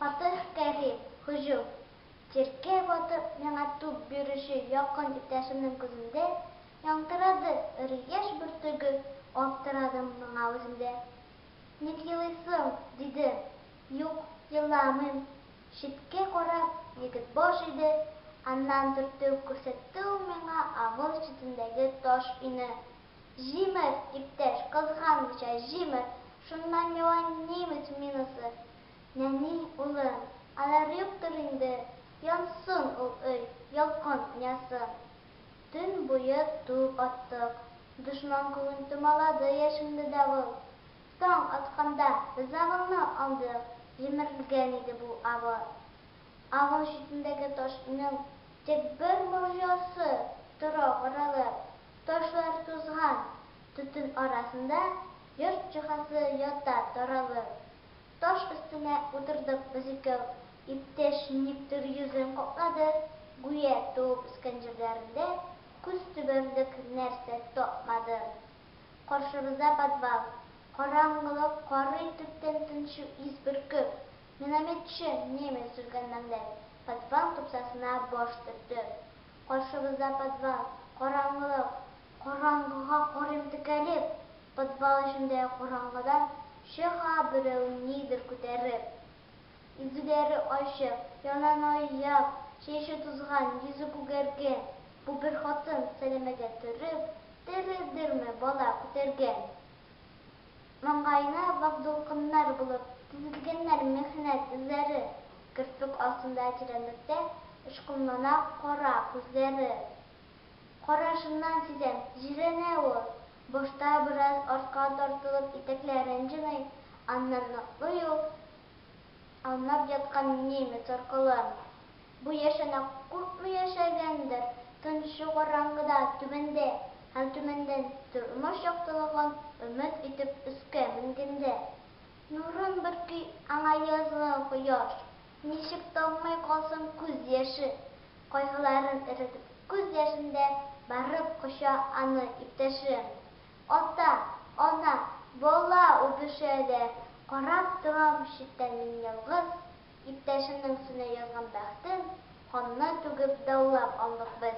Фатыйх Кәрим, һөҗүм. Җиркә батып миңа туп бирүче якын иптәшемнең күзендә Ялтырады эре яшь бөртеге Аптырадым моңа үзем дә. Ник елыйсың? дидем. Юк, еламыйм. Читкә карап, егет баш иде, аннан төртеп күрсәтте ул миңа авыл читендәге таш өйне. Җимер, иптәш, кызганмыйча җимер, шуннан яуа немец минасы. Нәни, улым, алар юктыр инде, янсын ул өй, ялкын уйнасын. Төн буе туп аттык. Дошман күген томалады яшенле давыл. Таң атканда ризыгыңны алдык, җимерелгән иде бу авыл. Авыл читендәге ташның тик бер морҗасы тора каралып, ташлар тузган, төтен арасында йорт җиһазы ята таралып. Таш өстенә утырдык без икәү. Иптәш никтер йөзен каплады, гүя туып-үскән җирләрендә күз төбәрлек нәрсә тапмады. Каршыбызда подвал. Караңгылык карый, төптән тынчу ис бөркеп. Минометчы, немец өлкәнмәңдәй, подвал тупсасына баш төртте. Каршыбызда подвал. Караңгылык. Караңгыга карыйм текәлеп. Подвал эчендә караңгыдан чы-га берәү нидер күтәреп. Йөзләре ачык, яннан ай-як, чәче тузган, йөзе күгәргән бу бер хатын сәләмәгә төреп, терелдерми бала күтәргән. Маңгаена вак дулкыннар булып тезелгәннәр михнәт эзләре, керфек астында тирәнлектә очкынлана кара күзләре. Карашыннан сизәм, җирәнә ул. Башта бераз артка тартылып итәкләрен җыный, аннан ныклый ул аунап яткан немец аркыларын. Бу яшенә куркмый яшәгәндер, тынчу караңгыда түбәндә һәм түбәндән тормыш яктылыгын өмет итеп өскә менгәндә, нурын бөрки аңа язгы кояш, Ничек таммый калсын күз яше? Кайгыларын эретеп күз яшендә Барып коча аны иптәшем. Ата, ана, бала үбешә дә, Карап торам читтән мин ялгыз. Иптәшемнең өстенә язган бәхтен Канны түгеп даулап алдык без.